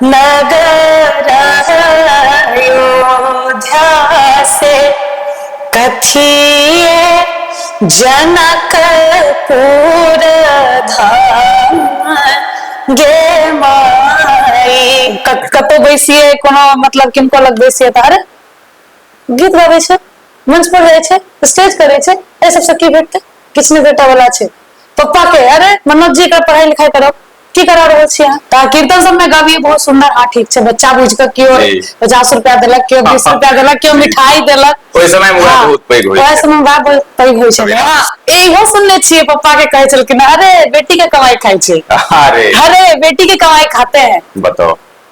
नगर अयोध्या से कथिए जनकपुर धाम गे माई क- कतौ बैसिए कोनो मतलब किनको लग बैसिए तऽ अरे गीत गाबै छै मंच पर जाइ छै स्टेज करै छै एहि सबसँ की भेटतै किछु नहि भेटऽ वाला छै पप्पा के अरे मनोज जी के पढ़ाई लिखाई करब की करा रहल छी अहाँ तऽ कीर्तन सब में गबियै बहुत सुंदर हाँ ठीक छै बच्चा बुझ के केओ जी। पचास रुपया देलक केओ बीस रुपया देलक केओ मिठाई देलक ओहि समय मे वएह हाँ, बहुत पैघ होइ ओएह छै समय बात बहुत पैघ होइ छलै हँ इहो सुनने छियै पप्पा के कहै छलखिन अरे बेटी के कमाई खाइ छै अरे अरे बेटी के कमाई खाते हैं बताओ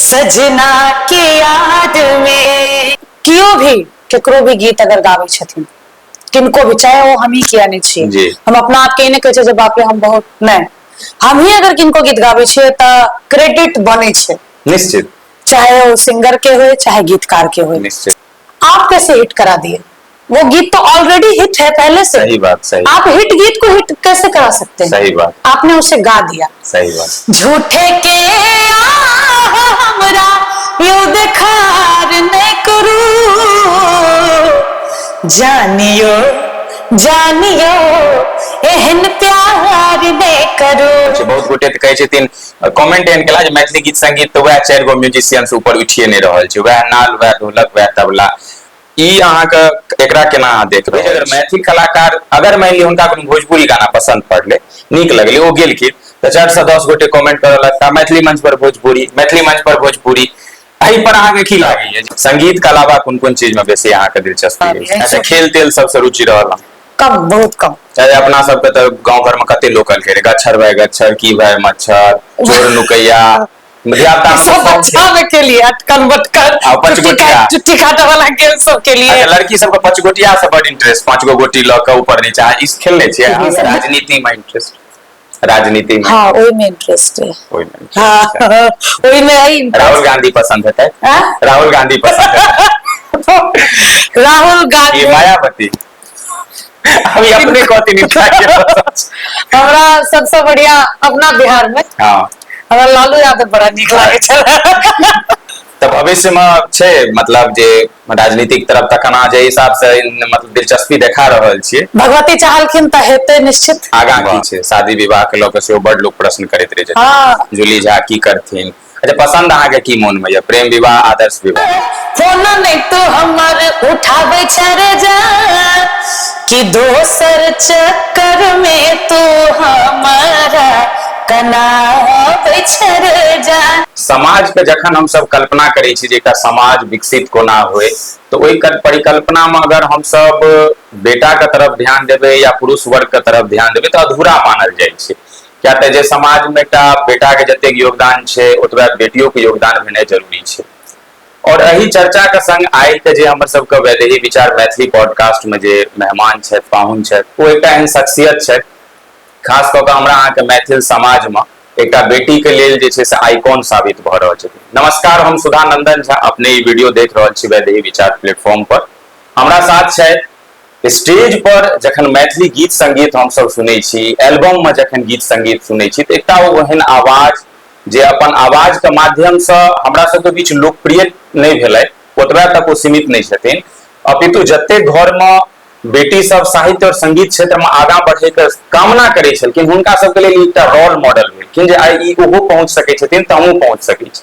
सजना के याद में कियो भी केकरो भी गीत अगर गाबै छथिन किनको भी चाहे वो हम ही किया नहीं जी। छियै हम अपना आप के ई नहि कहै छियै जे बाप रे हम बहुत नहि हम ही अगर किनको गीत गाबै छियै तऽ क्रेडिट बनै छै निश्चित चाहे वो सिंगर के होय चाहे गीतकार के होय निश्चित आप कैसे हिट करा दिए वो गीत तो ऑलरेडी हिट है पहले से सही बात सही आप हिट गीत को हिट कैसे करा सकते हैं सही बात आपने उसे गा दिया सही बात झूठे के हमरा यो देखार नहीं करू जानियो जानियो एहन प्यार नहीं करू अच्छा, बहुत गोटे कहे छे तीन कमेंट एन केला जे मैथिली गीत संगीत तो वह चार गो म्यूजिशियन से ऊपर उठिए नहीं रहल छे वह नाल वह ढोलक वह तबला ई अहाँके एकरा केना अहाँ देख रहे अगर मैथिल कलाकार अगर मानि लिअ हुनका कोनो भोजपुरी गाना पसन्द पड़लै नीक लगलै ओ गेलखिन तऽ चारि सए दस गोटे कमेंट करऽ लगता मैथिली मंच पर भोजपुरी मैथिली मंच पर भोजपुरी एहि पर अहाँके की लागैए संगीत के अलावा कोन कोन चीज में बेसी अहाँके दिलचस्पी अच्छा खेल तेल सबसँ रुचि रहल कम बहुत कम चाहे अपना सबके तऽ गाँव घरमे कते लोकल खेल गच्छर भाय गच्छर की भाय मच्छर चोर नुकैया मर्यादा ई सब बच्चा में के लिए अटकन बटकन आ, पाँच चुट्टी गोटिया। काट- चुट्टी काटे वाला गेम सब के लिए अच्छा, लड़की सबके पाँच गोटिया से बड इंटरेस्ट पाँच गो गोटी लऽ के ऊपर नीचा ई खेलने छियै अहाँ सब? राजनीति में इंटरेस्ट राजनीति में हाँ ओहि में इंटरेस्ट है ओहि में interest। हाँ ओहि में है interest। राहुल गांधी पसंद हेतै हाँ? राहुल गांधी पसंद हेतै राहुल गांधी ये मायावती अभी अपने कहती मिथिला के भाषा। हमरा सबसे बढ़िया अपना बिहार में हाँ हमरा लालू यादव बड़ा नीक लागे छल तऽ भविष्य मे छै मतलब जे राजनीतिक तरफ तखन अहाँ जे हिसाब से इन- मतलब दिलचस्पी देखा रहल छियै भगवती चाहलखिन तऽ हेतै निश्चित आगाँ की छै शादी विवाह के लऽ कऽ सेहो बड लोक प्रश्न करैत रहै छथिन हाँ जूली झा की करथिन अच्छा पसंद अहाँ के की मन में ये प्रेम विवाह आदर्श विवाह फोन नहीं तो हमर उठावे चर जा कि दोसर चक्कर में तू हमारा कनावे चर जा समाज के जखन हम सब कल्पना करे छी जे समाज विकसित कोना होए तो ओई कर परिकल्पना में अगर हम सब बेटा के तरफ ध्यान देबे या पुरुष वर्ग के तरफ ध्यान देबे तो अधूरा मानल जाय छै किया तऽ जे समाज में एकटा बेटा के जते योगदान छै ओतबे बेटियों के योगदान भेनाइ जरूरी छै और एहि चर्चा के संग आइ के जे हमर सबके वैदेही विचार मैथिली पॉडकास्ट में जे मेहमान छथि पाहुन छथि ओ एकटा एहन शख्सियत छथि खास कऽ के हमरा अहाँके मैथिल समाज में एकटा बेटी के लेल जे छै से आइकॉन साबित भऽ रहल छथि नमस्कार हम सुधा नंदन झा अपने ई वीडियो देख रहल छी वैदेही विचार प्लेटफॉर्म पर हमरा साथ छथि स्टेज पर जखन मैथिली गीत संगीत हमसभ सुनै छी एल्बम में जखन गीत संगीत सुनै छी तऽ एकटा ओहन आवाज जे अपन आवाज के माध्यम से हमरा सबके बीच लोकप्रिय नहि भेलै ओतबा तक ओ सीमित नहि छथिन अपितु जते घर में बेटी सब साहित्य और संगीत क्षेत्र में आगाँ बढ़े के कामना करै छलखिन हुनका सबके लेल एकटा रोल मॉडल भेलखिन जे आइ ई ओहो पहुँच सकै छथिन तऽ हमहूँ पहुँच सकै छी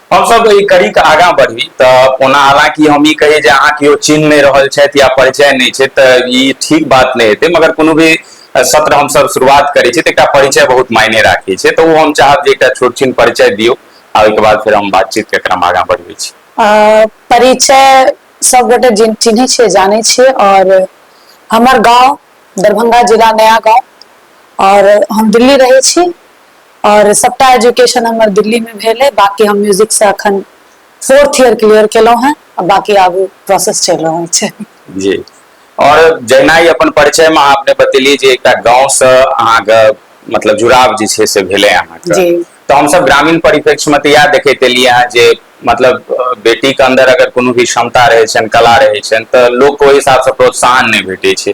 हमसभ ई कड़ी के आगा बढ़ी तऽ ओना हालांकि हम ई कही जे अहाँ केओ चिन्ह नहि रहल छथि या परिचय नहि छै तऽ ई ठीक बात नहि हेतै मगर कोनो भी सत्र हमसभ शुरुआत करै छी तऽ एकटा परिचय बहुत मायने राखै छै तऽ ओ हम चाहब जे एकटा छोट छीन परिचय दियौ आ ओहिके बाद फेर हम बातचीत के क्रम आगा बढ़बै छी परिचय सब गोटे चिन्है छियै जानै छियै और हमर गांव दरभंगा जिला नया गांव और हम दिल्ली रहै छी आओर सभटा एजुकेशन हमर दिल्लीमे भेल अइ बाँकी हम म्यूजिकसँ एखन फोर्थ ईयर क्लियर केलहुँ हेँ आ बाँकी आगू प्रोसेस चलि रहल छै जी आओर जहिना ई अपन परिचयमे अहाँ अपने बतेलियै जे एकटा गाँवसँ अहाँके मतलब जुड़ाव जे छै से भेलै अहाँके जी तऽ हमसभ ग्रामीण परिप्रेक्ष्यमे तऽ इएह देखैत एलियै हेँ जे मतलब अ, बेटीके अन्दर अगर कोनो भी क्षमता रहै छनि कला रहै छनि तऽ लोकके ओहि हिसाबसँ प्रोत्साहन नहि भेटै छै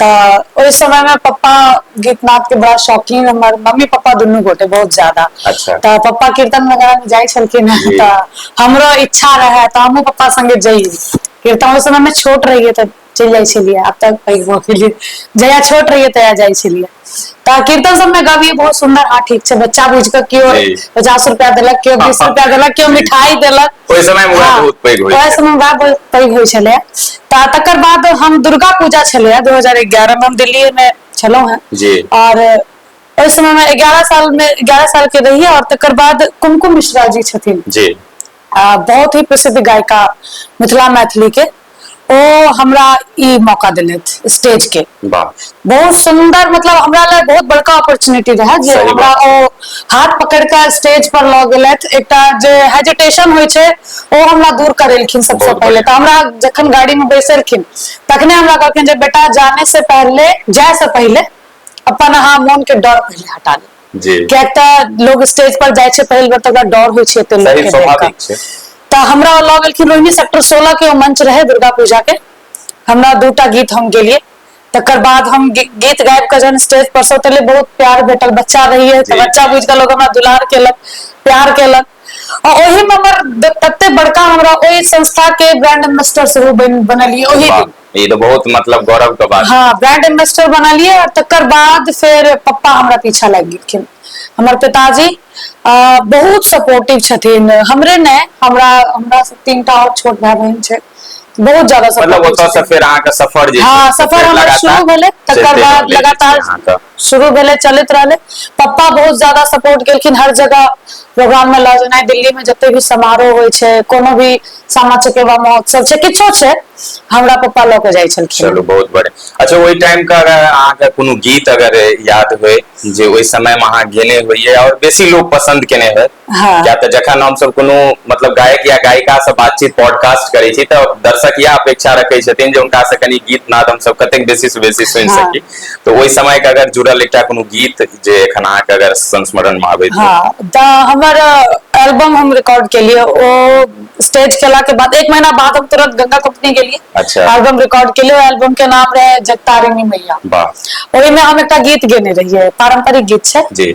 तऽ ओहि समय मे पप्पा गीत नाद के बड़ा शौकीन हमर मम्मी पप्पा दुनू गोटे बहुत ज्यादा अच्छा। तऽ पप्पा कीर्तन वगैरह मे जाइ छलखिन हेँ जी तऽ हमरो इच्छा रहै तऽ हमहूँ पप्पा संगे जइयै कीर्तन ओहि समय मे छोट रहियै तऽ चलि जाइ छलियै आब तऽ पैघ भऽ गेलियै जहिया छोट रहियै तहिया जाइ छलियै तऽ कीर्तन सब मे गबी बहुत सुन्दर हँ ठीक छै बच्चा बुझ के केओ जी पचास रुपआ देलक केओ बीस रुपआ देलक केओ जी मिठाई देलक ओहि समय मे उएह हँ बहुत पैघ होइ ओएह छै समय बाद बहुत पैघ होइ छलै तऽ तकर बाद हम दुर्गा पूजा छलैए दू हजार एगारह मे हम दिल्लीए मे छलहुँ हेँ जी आओर ओहि समय मे एगारह साल मे एगारह साल के रहियै आओर तकर बाद कुमकुम मिश्रा जी छथिन जी आ बहुत ही प्रसिद्ध गायिका मिथिला मैथिली के ओ हमरा ई मौका देलथि स्टेज के वाह बहुत सुंदर मतलब हमरा ले बहुत बड़का अपॉर्चुनिटी रहे जे सही हमरा बात। ओ हाथ पकड़ के स्टेज पर लऽ गेलथि एकटा जे हेजिटेशन होइ छै ओ हमरा दूर करेलखिन सबसे बहुत पहले तऽ हमरा जखन गाड़ी में बैसेलखिन तखने हमरा कहलखिन जे बेटा जाने से पहले जाए से पहले अपन अहाँ मोन के डर पहले हटा ली जी किएक तऽ लोग स्टेज पर जाइ छै पहिल बेर तऽ ओकरा डर होइ छै एते लोग के स्वाभाविक छै तऽ हमरा लऽ गेलखिन रोहिणी सेक्टर सोलह के मंच रहे दुर्गा पूजा के हमरा दूटा गीत हम गेलिए तकर बाद हम गीत गाबि कऽ जहन स्टेज पर से उतरलियै बहुत प्यार भेटल बच्चा रहिए तऽ बच्चा बुझि कऽ लोग हमरा दुलार केलक प्यार केलक आ ओहिमे हमर तते बड़का हमरा ओहि संस्था के ब्रांड एम्बेसडर सेहो बनलियै ओहि दिन ई तऽ बहुत मतलब गौरव के बात हाँ ब्रांड एम्बेसडर बनलियै और तकर बाद फेर पप्पा हमरा पीछा लागि गेलखिन हमर पिताजी आ, बहुत सपोर्टिव छथिन हमरे ने हमरा हमरा से तीन टा और छोट भाई बहन छै बहुत ज्यादा मतलब सपोर्टिव ओतऽ से छथिन। फेर अहाँके सफर जे हाँ छै, सफर फेर हमर लगातार शुरू भेलै तकर चलिते बाद रहलै लगातार अहाँके। शुरू भेलै चलैत रहलै पप्पा बहुत जादा सपोर्ट केलखिन हर जगह प्रोग्राम मे लऽ जेनाइ दिल्ली मे जते भी समारोह होइ छै कोनो भी सामा चकेवा महोत्सव छै किछो छै हमरा पप्पा लऽ के जाइ छै चलू बहुत बढ़िया अच्छा ओहि टाइम के अगर अहाँके कोनो गीत अगर याद होय जे ओहि समय मे अहाँ गेने होइयै आओर बेसी लोग पसन्द केने होय हाँ। किया तऽ जखन हम सब कोनो मतलब गायक या गायिका से बातचीत पॉडकास्ट करै छी तऽ दर्शक यह अपेक्षा रखै छथिन जे हुनका से कनी गीत नाद हम सब कतेक बेसी से बेसी सुनि हाँ। सकी तऽ ओहि समय के अगर जुड़ल एकटा कोनो गीत जे एखन अहाँ के अगर संस्मरण में आबैत हाँ तऽ हमर एल्बम हम रिकॉर्ड केलिए ओ स्टेज केला के बाद एक महीना बाद हम तुरंत गंगा कंपनी गेलिए अच्छा। एल्बम रिकॉर्ड केलिए एल्बम के नाम रहे जगतारिणी मैया वाह ओहि में हम एकटा गीत गेने रहिए पारंपरिक गीत छै जी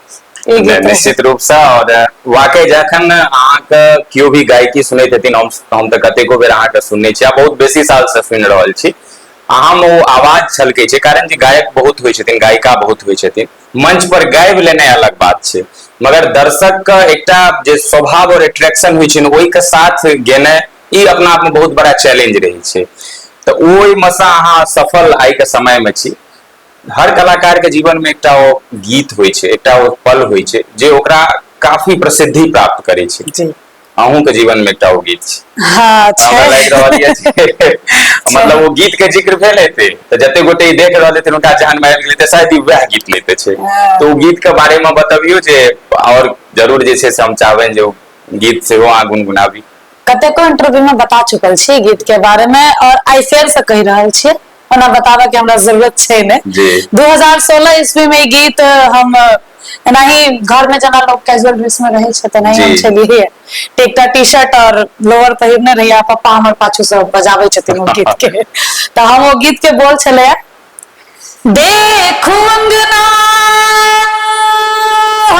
निश्चित रूप से और वाकई जखन अहाँके केओ भी गायकी सुनैत हेथिन हम हम तऽ कतेको बेर अहाँके सुनने छी आ बहुत बेसी साल से सुनि रहल छी अहाँ ओ आवाज छलकै छै कारण जे गायक बहुत होइ छथिन गायिका बहुत होइ छथिन मंच पर गाबि लेनाइ अलग बात छै मगर दर्शक के एकटा जे स्वभाव और एट्रैक्शन होइ छै ओहि के साथ गेनाइ ई अपना आप में बहुत बड़ा चैलेंज रहै छै तऽ ओहिमे से अहाँ सफल आइ के समय में छी हर कलाकारके जीवनमे एकटा ओ गीत होइ छै एकटा ओ पल होइ छै जे ओकरा काफी प्रसिद्धि प्राप्त करै छै जी अहूँके जीवनमे एकटा ओ गीत छै हँ छै हमरा लागि रहल यऽ जे मतलब ओ गीतके जिक्र भेल हेतै तऽ जते गोटे ई देख रहल हेतै हुनका जहन आबि गेलै तऽ शायद ई वएह गीत लेते छै हँ। तऽ ओ गीतके बारेमे बतबियौ जे आओर जरूर जे छै से हम चाहबनि जे ओ गीत सेहो अहाँ गुनगुनाबी कतेको इंटरव्यू में बता चुकल छी गीत के बारे में और आइ फेर से कहि रहल छियै ओना बताबऽ के हमरा जरूरत छै ने जी। 2016 ईस्वी में ई गीत हम एनाही घर में जना लोग कैजुअल ड्रेस में रहे छै तेनाही जी। हम छलिए ते एकटा टी शर्ट और लोअर पहिरने रहिए आ पप्पा हमर पाछू से बजाबै छथिन ओ गीत के तऽ हम ओ गीत के बोल छलै देखू अंगना हो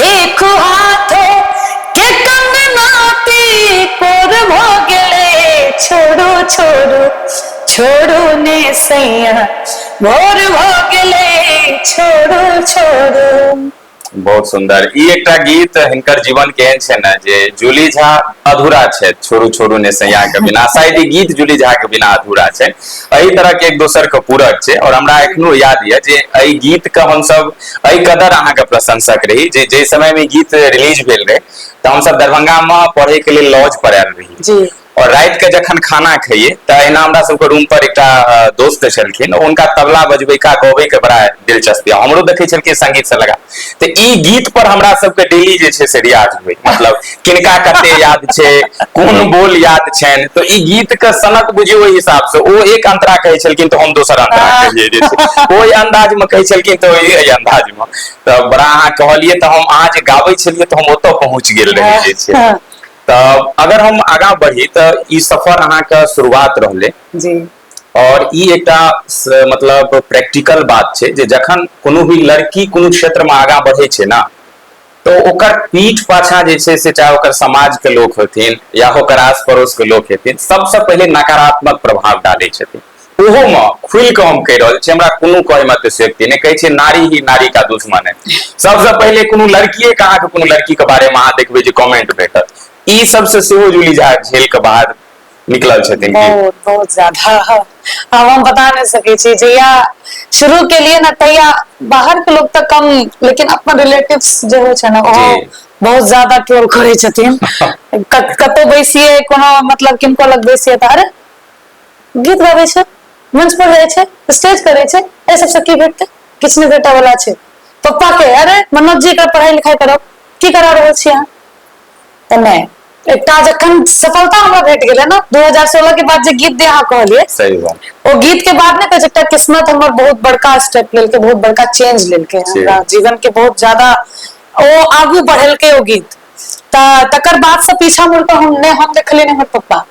देखो हाथो के कंगनाती कोर भोगले छोड़ो छोड़ो छोड़ो ने सैया भोर भोगले छोड़ो छोड़ो बहुत सुंदर ई एकटा गीत हिनकर जीवन के एहन छै ने जे जूली झा अधूरा छै छोड़ू छोड़ू ने सैया के बिना शायद ई गीत जूली झा के बिना अधूरा छै एहि तरह के एक दोसर के पूरक छै और हमरा एखनो याद ये जे एहि गीत के हमसब एहि कदर अहाँके प्रशंसक रही जे जे समय में गीत रिलीज भेल रहे तऽ हम सब दरभंगा में पढ़े के लिए लॉज पर आयल रही जी और रात के जखन खाना खाइए तऽ अहिना हमरा सबके रूम पर एकटा दोस्त छलखिन उनका तबला बजबे का गबे के बड़ा दिलचस्पी हमरो देखे छलखिन संगीत से लगा तऽ ई गीत पर हमरा सबके डेली जे छै से रियाज हुए मतलब किनका कते याद छै कोन बोल याद छनि तऽ ई गीत के सनक बुझियो ओहि हिसाब से ओ एक अंतरा कहै छलखिन तऽ हम दोसर अंतरा हाँ। कहिए जे छै ओहि अंदाज में कहै छलखिन तऽ ओहि एहि अंदाज में तऽ बड़ा अहाँ कहलियै तऽ हम अहाँ जे गाबै छलियै तऽ हम ओतऽ पहुँच गेल रही जे छै हाँ। तऽ अगर हम आगाँ बढ़ी तऽ ई सफर अहाँके शुरुआत रहलै जी और ई एकटा स- मतलब प्रैक्टिकल बात छै जे जखन कोनो भी लड़की कोनो क्षेत्र में आगाँ बढ़ै छै ना तऽ ओकर पीठ पाछा जे छै से चाहे ओकर समाज के लोक होथिन या ओकर आस पड़ोस के लोक हेथिन सबसँ पहिले नकारात्मक प्रभाव डालै छथिन ओहो में खुल के हम कह रहल छी हमरा कोनो कहे में अतिशयोक्ति नहि कहै छै नारी ही नारी का दुश्मन है सबसँ पहिले कोनो लड़किए के अहाँके कोनो लड़की के बारे में अहाँ देखबै जे कमेंट भेटत ई सबसँ सेहो जूली झा झेल के बाद निकलल छथिन की बहुत बहुत ज्यादा आब हम बता नहि सकै छी जहिया शुरू के लिए ने तहिया बाहर के लोग तऽ कम लेकिन अपन रिलेटिव जे होइ छै ने ओहो जी बहुत ज्यादा ट्रोल करै छथिन कत- कतौ बैसियै कोनो मतलब किनको लग बैसियै तऽ अरे गीत गाबै छै मंच पर जाइ छै स्टेज करै छै एहि सबसँ की भेटतै किछु नहि भेटऽ वाला छै पप्पा के अरे मनोज जी के पढ़ाई लिखाई करब की करा रहल छी अहाँ तऽ नहि एकटा जखन सफलता हमरा भेट गेलै ने 2016 के बाद जे गीत दे अहाँ कहलिए सही बात ओ गीत के बाद ने कहै एकटा किस्मत हमर बहुत बड़का स्टेप लेलकै बहुत बड़का चेंज लेलकै हमरा जीवन के बहुत ज्यादा ओ आगू बढ़ेलकै ओ गीत तऽ तकर बाद से पीछा मुड़ के हम ने हम देखलिए ने हमर पप्पा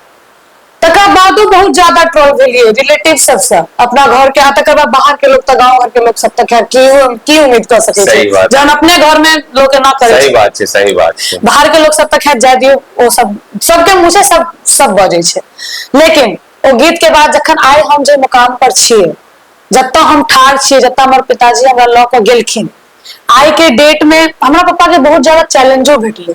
तकर बादो बहुत ज्यादा ट्रोल भेलिए रिलेटिव सबसे अपना घर के आ तकर बाद बाहर के लोग त गांव घर के लोग सब तक की की उम्मीद कर सके छै जहन अपने घर में लोग ना करे सही बात छै सही बात छै बाहर के लोग सब तक खैर जाय दियो ओ सब सबके मुंह से सब सब बजे छै लेकिन ओ गीत के बाद जखन आए हम जे मुकाम पर छिए जत्ता हम ठार छिए जत्ता हमर पिताजी हमरा ल के गेलखिन आइ के डेट में हमरा पापा के बहुत ज्यादा चैलेंजो भेटले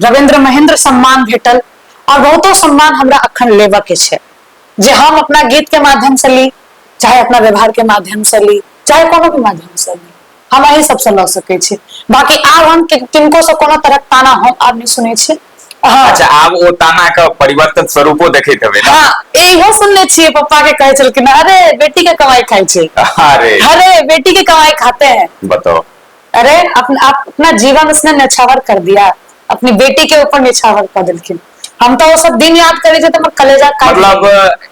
रविन्द्र महेन्द्र सम्मान भेटल और बहुतो सम्मान हमरा अखन लेबऽ के छै जे हम अपना गीत के माध्यम से ली चाहे अपना व्यवहार के माध्यम से ली चाहे कोनो भी माध्यम से ली हम अही सबसे लऽ सकै छी बाकी आब हम कि- किनको से कोनो तरह ताना हम आब नहि सुनै छी हाँ अच्छा आब ओ ताना के परिवर्तन स्वरूपो देखैत हेबै ने हाँ इहो सुनने छियै पप्पा के कहै छलखिन अरे बेटी के कमाई खाइ छै अरे अरे बेटी के कमाई खाते हैं बताओ अरे अपन, अपना जीवन उसने नछावर कर दिया अपनी बेटी के ऊपर निछावर कर देलखिन हम तो वो सब दिन याद करे थे तो मैं कलेजा का मतलब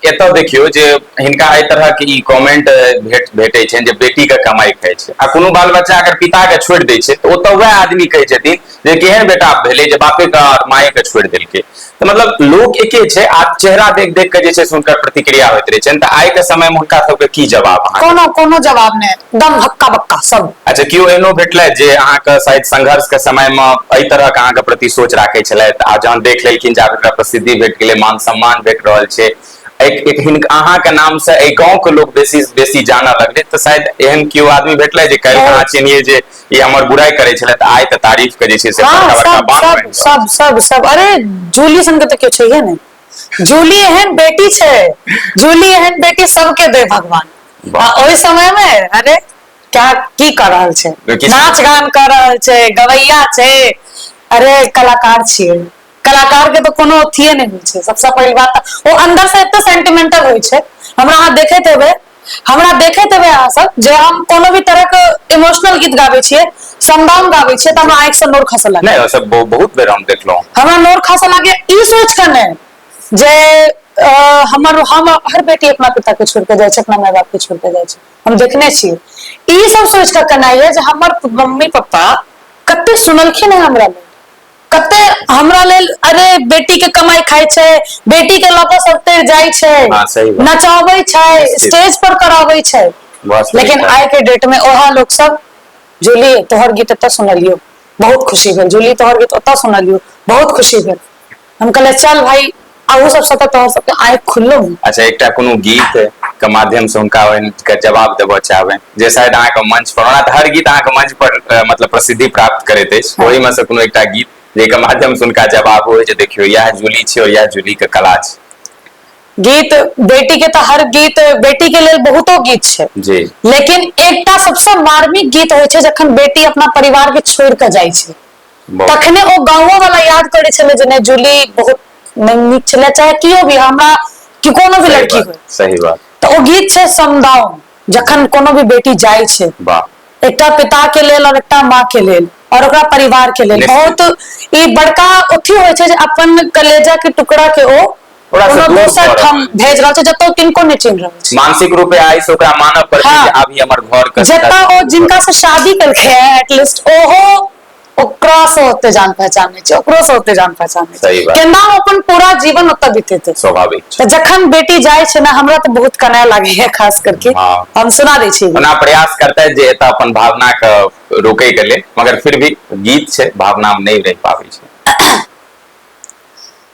एत देखियो जे हिनका ए तरह के ई कमेंट भेट भेटे छन जे बेटी के कमाई खाय छै आ कोनो बाल बच्चा अगर पिता के छोड़ दे छै तो ओत वह आदमी कहे छथिन जे केहन बेटा भेलै जे बापे के और माए के छोड़ देलकै तो मतलब लोग एके छै आ चेहरा देख देख के जे छै से उनकर प्रतिक्रिया होइत रहै छनि तऽ आइ के समय में हुनका सबके की जवाब अहाँ कोनो कोनो जवाब नै दम हक्का बक्का सब अच्छा केओ एहनो भेटलथि जे अहाँ के शायद संघर्ष के समय में एहि तरह के अहाँ के प्रति सोच राखे छलथि आ जहन देख लेलखिन जे आब प्रसिद्धि भेट गेलै मान सम्मान भेट रहल छै अहाँ के नाम से एहि गाँव के लोग बेसी बेसी जानऽ लगलै तऽ शायद एहन केओ आदमी भेटलथि जे काल्हि अहाँ चिन्हियै जे ई हमर बुराई करै छलै तऽ आइ तऽ तारीफ के जे छै से हाँ, बड़का बड़का सब बात सब बनि रहल। सब सब सब अरे जूली सन के तो क्यों चाहिए ने जूली एहन बेटी छे जूली एहन बेटी सबके दे भगवान वाह। आ ओहि समय में अरे क्या की कर रहल छे किस- नाच गान कर रहल छे गवैया छे अरे कलाकार छिए कलाकार के तो कोनो अथिए नहीं होय छे सबसे पहली बात तऽ ओ अंदर से एते सेंटिमेंटल होय छे हमरा अहाँ देखैत हेबै हमरा देखैत हेबै अहाँ सब जे हम कोनो भी तरह के इमोशनल गीत गाबै छियै समदाउन गाबै छियै तऽ हमरा आँखि से नोर खसऽ लागै नहि ओ सब बहु- बहुत बेर हम देखलहुँ हमरा नोर खसऽ लागै ई सोच कऽ नहि जे अ, हमर हम हर बेटी अपना पिता के छोड़ के जाइ छै अपना माय बाप के छोड़ के जाइ छै हम देखने छियै ई सब सोच कऽ केनाइ यऽ जे हमर मम्मी पप्पा कते सुनलखिन है हमरा लेल कते हमरा लेल अरे बेटी के कमाई खाई छे बेटी के लपा सब तेर जाई छे हाँ, सही बात। नचावे छे निश्चित। स्टेज पर करावे छे बहुत सही लेकिन बात। आय के डेट में ओहा लोग सब जूली तोहर गीत एतऽ सुनलियो बहुत खुशी भेल जूली तोहर गीत ओतऽ सुनलियो बहुत खुशी भेल हम कहले चल भाई अहू सब सत तोहर सबके आय खुललो अच्छा एकटा कोनो गीत के माध्यम से हुनका के जवाब देबऽ चाहबे जे शायद अहाँ के मंच पर ओना हर गीत अहाँ के मंच पर मतलब प्रसिद्धि प्राप्त करैत अछि हाँ। ओहि में से कोनो एकटा गीत जेके माध्यम से हुनका जवाब हो जे देखियो यह जूली छै और यह जूली के कला छै गीत बेटी के तो हर गीत बेटी के लिए बहुत गीत है जी लेकिन एकटा सबसे मार्मिक गीत हो जखन बेटी अपना परिवार के छोड़ के जाए तखने ओ गाँवो वाला याद करे छले जे नहीं जूली बहुत नहीं नीक छले चाहे कियो भी हमरा कि कोनो भी लड़की हो सही बात तो ओ गीत छे समदाउन जखन कोनो भी बेटी जाय छे वाह एक पिता के लेल और एक माँ के लेल और ओकरा परिवार के लेल बहुत ई बड़का अथी होय छे जे अपन कलेजा के टुकड़ा के ओ दोसर ठाम भेज रहल छै जतौ किनको नहि चिन्ह रहल छै मानसिक रूपे आइ से ओकरा मानव पर हाँ। आबी हमर घर के जतौ ओ जिनका से शादी केलकै एटलीस्ट ओहो ओकरा से ओते जान पहचान नहीं छै ओकरो से ओते जान पहचान नहीं सही बात। केना ओ अपन पूरा जीवन ओतऽ बितेते स्वाभाविक छै तऽ जखन बेटी जाइ छै ने हमरा तऽ बहुत कनाय लागे है खास करके हाँ। हम सुना दै छी ओना प्रयास करतै जे एतऽ अपन भावना के रोकै के लेल मगर फिर भी गीत छै भावना में नहीं रह पाबै छै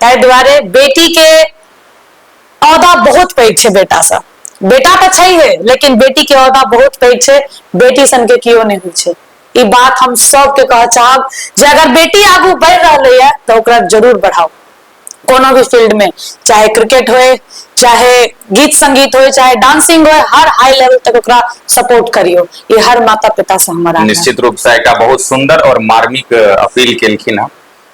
ताहि दुआरे बेटी के औदा बहुत पैघ छै बेटा से बेटा तऽ छै हे लेकिन बेटी के औदा बहुत पैघ छै बेटी सन के कियो नहि होइ छै ई बात हम सबके कह चाहब जे अगर बेटी आगू बढ़ि रहले है तऽ ओकरा जरूर बढ़ाओ कोनो भी फील्ड में चाहे क्रिकेट हो चाहे गीत संगीत हो चाहे डांसिंग हो हर हाई लेवल तक ओकरा सपोर्ट करियो ये हर माता पिता से हमारा निश्चित रूप से एक बहुत सुंदर और मार्मिक अपील केलखिन हँ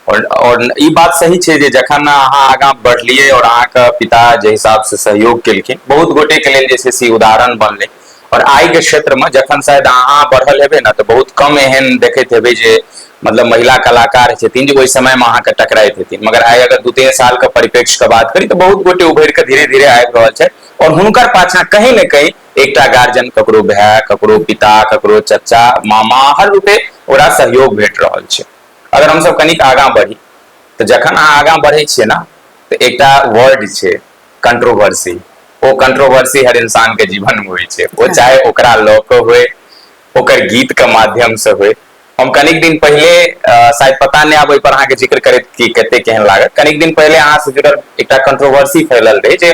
आओर आओर ई बात सही छै जे जखन अहाँ आगाँ बढ़लियै आओर अहाँके पिता जाहि हिसाबसँ सहयोग केलखिन बहुत गोटेके लेल जे छै से उदाहरण बनलै आओर आइके क्षेत्रमे जखन शायद अहाँ बढ़ल हेबै ने तऽ बहुत कम एहन देखैत हेबै जे मतलब महिला कलाकार छथिन जे ओहि समयमे अहाँके टकराइत हेथिन मगर आइ अगर दू तीन सालके परिप्रेक्ष्यके बात करी तऽ बहुत गोटे उभरि कऽ धीरे धीरे आबि रहल छथि आओर हुनकर पाछाँ कहीं ने कहीं एकटा गार्जियन ककरो भाय ककरो पिता ककरो चचा मामा हर रूपे ओकरा सहयोग भेट रहल छै अगर हम सब कनिक आगाँ बढ़ी तऽ जखन अहाँ आगाँ बढ़ै छियै ने तऽ एकटा वर्ड छै कंट्रोवर्सी ओ कंट्रोवर्सी हर इंसान के जीवन में होइ छै ओ हाँ। चाहे ओकरा लऽ कऽ होय ओकर गीत के माध्यम से होय हम कनिक दिन पहिले शायद पता नहि आब ओहि पर अहाँके जिक्र करैत कि कते केहन लागत कनिक दिन पहिले अहाँ से जुड़ल एकटा कंट्रोवर्सी फैलल रहै जे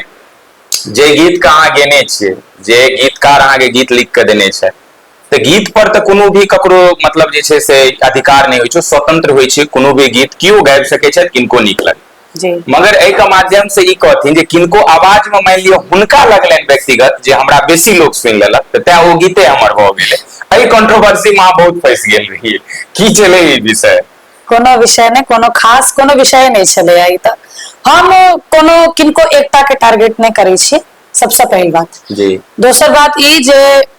जे गीत के अहाँ गेने छियै जे गीतकार अहाँके गीत लिख कऽ देने छै तऽ गीत पर तऽ कोनो भी ककरो मतलब जे छै से अधिकार नहि होइ छै स्वतंत्र होइ छै कोनो भी गीत केओ गाबि सकै छथि किनको नीक लगै मगर एहिके माध्यम से ई कहथिन जे किनको आवाज में मान लियो हुनका लगलनि व्यक्तिगत जे हमरा बेसी लोग सुनि लेलक तऽ तैं ओ गीते हमर भऽ गेलै एहि कॉन्ट्रोवर्सी में अहाँ बहुत फंसि गेल रहियै की छलै ई विषय कोनो विषय नहि कोनो खास कोनो विषय नहि छलैया ई तऽ हम कोनो किनको एकता के टारगेट नहि करै छी सबसँ पहिल बात दोसर बात ई जे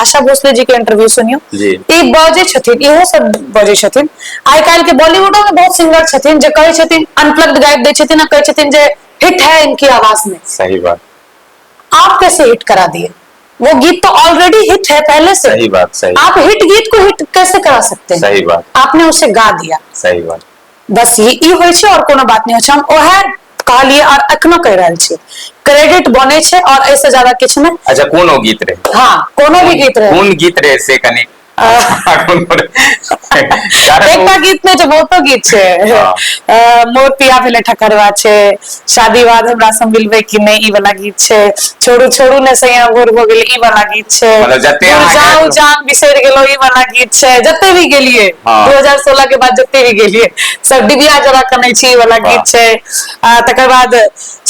आशा भोसले जी के इंटरव्यू सुनियो जी। ई बजै छथिन इहो सब बजै छथिन आइ काल्हि के बॉलीवुडो में बहुत सिंगर छथिन जे कहै छथिन अनप्लग्ड गाबि दै छथिन आ कहै छथिन जे हिट है इनकी आवाज में सही बात आप कैसे हिट करा दिए वो गीत तो ऑलरेडी हिट है पहले से सही बात सही आप हिट गीत को हिट कैसे करा सकते हैं सही बात आपने उसे गा दिया सही बात बस ये ई होइ छै और कोनो बात नहि होइ छै हम ओहे कहलियै और एखनो कहि रहल छी क्रेडिट बने छै और ऐसे से ज्यादा किछु नहि अच्छा कोनो गीत रहे हाँ कोनो भी गीत रहे कोन गीत रहे से कनी एकटा गीत नहि छै बहुतो गीत छै हाँ। मोर पिया भेले ठकरवा छै शादी बाद हमरा से मिलबै कि नहि ई वाला गीत छै छोड़ू छोड़ू ने सैया भोर भऽ गेल ई वाला गीत छै मतलब जते दूर अहाँ जाउ गाबि- जान बिसरि गेलहुँ ई वाला गीत छै जते भी गेलिए हँ। 2016 के बाद जते भी गेलिए सब डिबिया जरा कनै छी ई वाला वाह। गीत छै आ तकर बाद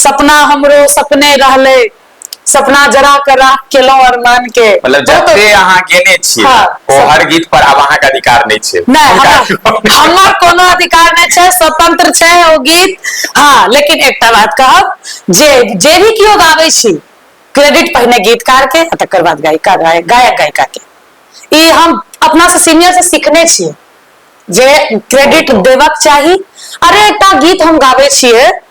सपना हमरो सपने रहलै सपना जरा के राख केलहुँ अरमान के मतलब बहुत- जते अहाँ गेने छियै हाँ, ओ सब- हर गीत पर आब अहाँके अधिकार नहि छै नहि हुनका हमरा- हमर कोनो अधिकार नहि छै स्वतंत्र छै ओ गीत हाँ लेकिन एकटा बात कहब जे जे भी केओ गाबै छी क्रेडिट पहिने गीतकार के आ तकर बाद गायिका गाय- गायक गायिका के ई हम अपना से सीनियर से सीखने छियै जे क्रेडिट देबक चाही अरे एकटा गीत हम गाबै छियै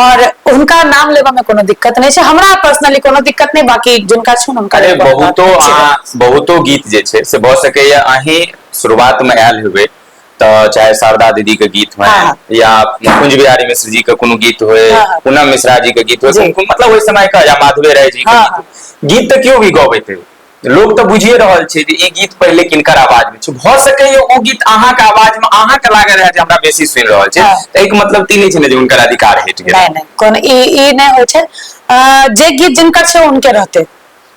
और हुनका नाम लेबऽ में कोनो दिक्कत नहीं छै हमरा पर्सनली कोनो दिक्कत नहीं बाकी जिनका छै हुनका अरे बहुतो बहुतो गीत जे छै से भ सके या अही शुरुआत में आयल हेबे त चाहे शारदा दीदी के गीत हो हाँ, हाँ। या कुंज बिहारी मिश्र जी के कोनो गीत हो हाँ, हाँ। पूनम मिश्रा जी के गीत हो मतलब ओहि समय का या माधवे राय जी के गीत गीत त क्यों भी गबे थे लोक तऽ बुझिए रहल छै जे ई गीत पहिले किनकर आवाज में छै भऽ सकैए ओ गीत अहाँके आवाज में अहाँके लागल रहै जे हमरा बेसी सुनि रहल छै हाँ। तऽ एहिके मतलब तऽ ई नहि छै ने जे हुनकर अधिकार हटि गेल नहि नहि कोनो ई ई नहि होइ छै जे गीत जिनकर छै उनके रहते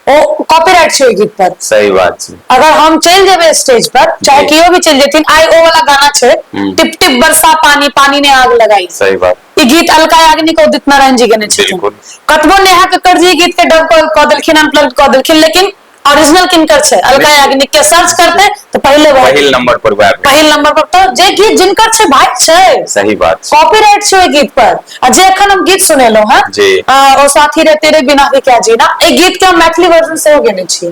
ओ कॉपीराइट छै ओहि गीत पर सही बात छै अगर हम चलि जेबै स्टेज पर चाहे केओ भी चलि जेथिन आइ ओ वाला गाना छै हम्म। टिप टिप बरसा पानी पानी ने आग लगाई सही बात ई गीत अलका याग्निक उदित नारायण जी गेने छथिन बिल्कुल। कतबो नेहा कक्कड़ जी ई गीत के डब कऽ कऽ देलखिन अनप्लग्ड कऽ देलखिन लेकिन ओरिजिनल किनकर छै अलका बिल्कुल। याग्निक के सर्च करते तो पहले वह पहिल नंबर पर वैब पहिल नंबर पर तो जे गीत जिनकर छै भाई छै सही बात छै। कॉपीराइट छै ओहि गीत पर आ जे एखन हम गीत सुनेलहुं हैं जी। अ, ओ साथी रे तेरे बिना भी क्या जीना एहि गीत के हम मैथिली वर्जन सेहो गेने छी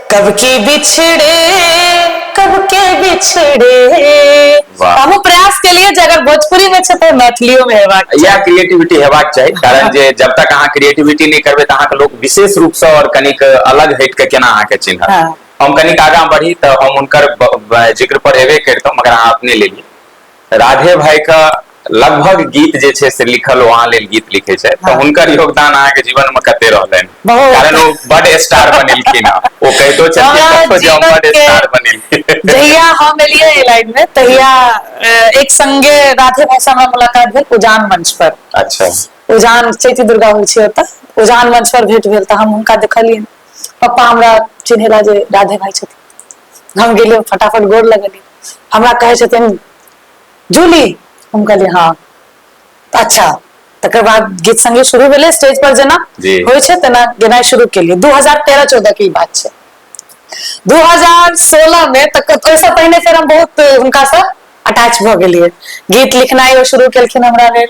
कब के बिछड़े कब के बिछड़े वाह। हम प्रयास के लिए जे अगर भोजपुरी में छै तऽ मैथिलियो में हेबाक चाही। या क्रिएटिविटी हेबाक चाही कारण जे जब तक अहाँ क्रिएटिविटी नहीं करबे तऽ अहाँके लोग विशेष रूप से और कनिक अलग हट के केना अहाँके चिन्हत हाँ। हम कनिक आगाँ बढ़ी तऽ हम उनकर ब- ब- जिक्र पर हेबे करतौ मगर अहाँ अपने ले ली राधे भाई का लगभग गीत जे छै से लिखल ओ अहाँ लेल गीत लिखे छै तऽ हाँ। हुनकर योगदान अहाँके जीवन में कते रहलनि बहुत। कारण ओ बड स्टार बनेलखिन हँ ओ कहितो छलखिन हमरा कतहु जे हम जीवन बड के- स्टार बनेलखिन जहिया हम एलियै एहि लाइन में तहिया अ, एक संगे राधे भाई से हमरा मुलाकात भेल उजान मंच पर अच्छा उजान चैती दुर्गा होइ छै ओतऽ उजान मंच पर भेंट भेल तऽ हम हुनका देखलियनि पप्पा हमरा चिन्हेला जे राधे भाई छथिन हम गेलियै फटाफट गोर लगलियै हमरा कहै छथिन जूली हम कहलियै हँ तऽ अच्छा तकर बाद गीत संगे शुरू भेलै स्टेज पर जेना जी। होइ छै तेना गेनाइ शुरू केलियै दू हजार तेरह चौदह के ई बात छै दू हजार सोलह मे तऽ क- ओहिसँ पहिने फेर हम बहुत हुनकासँ अटैच भऽ गेलियै गीत लिखनाइ ओ शुरू केलखिन हमरा लेल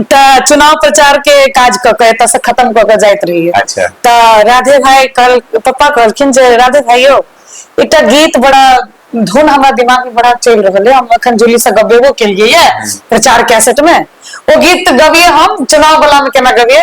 तऽ चुनाव प्रचार के काज कऽ के एतऽ से खत्म कऽ के जाइत रहियै अच्छा। तऽ राधे भाई कहल पप्पा कहलखिन जे राधे भाई यौ एकटा गीत बड़ा धुन हमरा दिमाग में बड़ा चलि रहल है हम अखन जूली से गबेबो केलियै ये प्रचार कैसेट में ओ गीत गबियै हम चुनाव बला में केना गबियै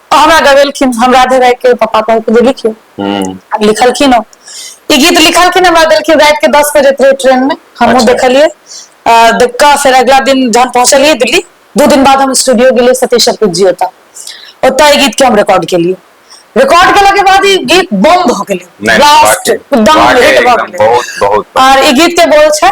आ हमरा गवेलखिन हम राधे राय के पापा कह के जे लिखियो हम्म, आ लिखलखिन ओ ई गीत लिखलखिन हमरा देलखिन रात के दस बजे थे ट्रेन में हमहूँ अच्छा। देखलिए आ, देख कऽ फेर अगला दिन जहन पहुंचलिए दिल्ली दू दिन बाद हम स्टूडियो गेलिए सतीश अर्पित जी ओतऽ ओतऽ ई गीत के हम रिकॉर्ड केलिए रिकॉर्ड केला के बाद ई गीत बम भऽ गेलै नहीं, ब्लास्ट वाकई- एकदम वाकई hit भऽ एकदम गेलै बहुत बहुत और ई गीत के बोल छै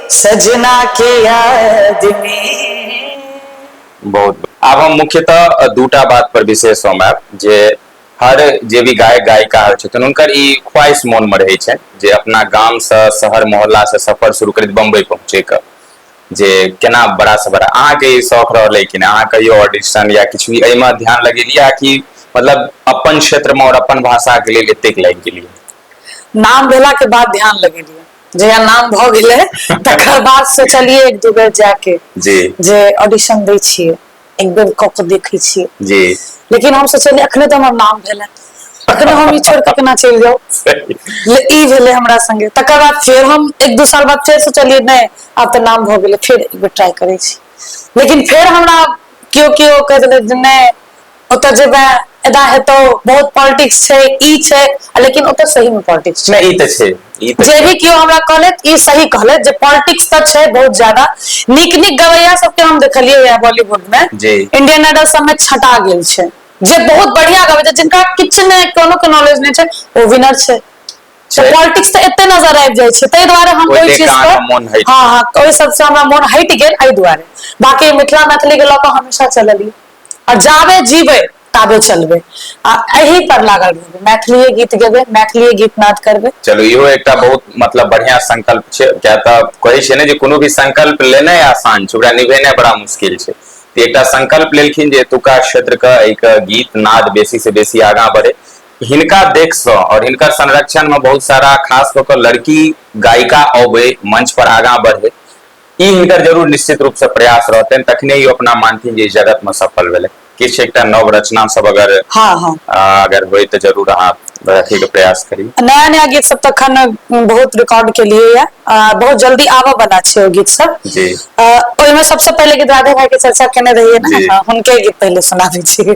सजना के याद में बहुत आब हम मुख्यतः अ, दूटा बात पर विशेष हम आयब जे हर जे भी गायक गायिका होइ छथिन हुनकर ई ख्वाहिश मोन में रहै छै जे अपना गाम से शहर मोहल्ला से सफर शुरू करैत बम्बई पहुँचे के जे केना बड़ा से बड़ा अहाँके ई शौक रहलै कि नहि अहाँ कहियो ऑडिशन या किछु भी एहिमे ध्यान लगेलियै कि मतलब अपन क्षेत्र में और अपन भाषा के लेल एतेक लागि गेलियै नाम भेला के बाद ध्यान लगेलियै जहिया नाम भऽ गेलै तकर बाद सोचलियै एक दू बेर जाके जी जे ऑडिशन दै छियै एक बेर कऽ के देखै छियै जी लेकिन हम सोचलियै अखने तऽ हमर नाम भेलै अखने हम ई छोड़ कऽ केना चलि जाउ ले ई भेलै हमरा संगे तकर बाद फेर हम एक दू साल बाद फेर सोचलियै नहि आब तऽ नाम भऽ गेलै फेर एक बेर ट्राई करै छी लेकिन फेर हमरा केओ केओ कहि देलथि जे नहि ओतऽ जेबे एदा हेतौ बहुत पॉलिटिक्स छै ई छै लेकिन ओतऽ सही मे पॉलिटिक्स छै ई तऽ छै जे भी केओ हमरा कहलथि ई सही कहलथि जे पॉलिटिक्स तऽ छै बहुत ज्यादा नीक नीक गवैया सबके हम देखलियै या बॉलीवुड मे इंडियन आइडल सबमे छटा गेल छै जे बहुत बढ़िया गबै छै जिनका किछु नहि कोनो के नॉलेज नहि छै ओ विनर छै पॉलिटिक्स तऽ एते नजर आबि जाइ छै ताहि दुआरे हम ओहि चीज पर हँ हँ ओहि सबसँ हमरा मोन हटि गेल एहि दुआरे बाकी मिथिला मैथिली के लऽ कऽ हमेशा चललियै आ जाबे जीबै ताबे चलबै आ एहि पर लागल रहबै मैथिलीए गीत गेबै मैथिलीए गीत नाद करबै चलू इहो एकटा बहुत मतलब बढ़िया संकल्प छै किया तऽ कहै छै ने जे कोनो भी संकल्प लेनाइ आसान छै ओकरा निभेनाइ बड़ा मुश्किल छै तऽ एकटा संकल्प लेलखिन जे एतुका क्षेत्रके एहिके गीत नाद बेसी से बेसी आगाँ बढ़े हिनका देखसँ आओर हिनकर संरक्षणमे बहुत सारा खास कऽ कऽ लड़की गायिका अबै मंच पर आगाँ बढ़े ई हिनकर जरूर निश्चित रूप से प्रयास रहतनि तखने ई अपना मानथिन जे जगत में सफल भेलै किछु एकटा नव रचना सब अगर हाँ हाँ अगर होय तो जरूर अहाँ रखे के प्रयास करी नया नया गीत सब तो अखन बहुत रिकॉर्ड के लिए या बहुत जल्दी आबऽ वाला छै ओ गीत सब जी ओहि में सबसे पहले गीत राधे भाई के चर्चा केने रहिए ना हाँ, उनके गीत पहले सुना दीजिए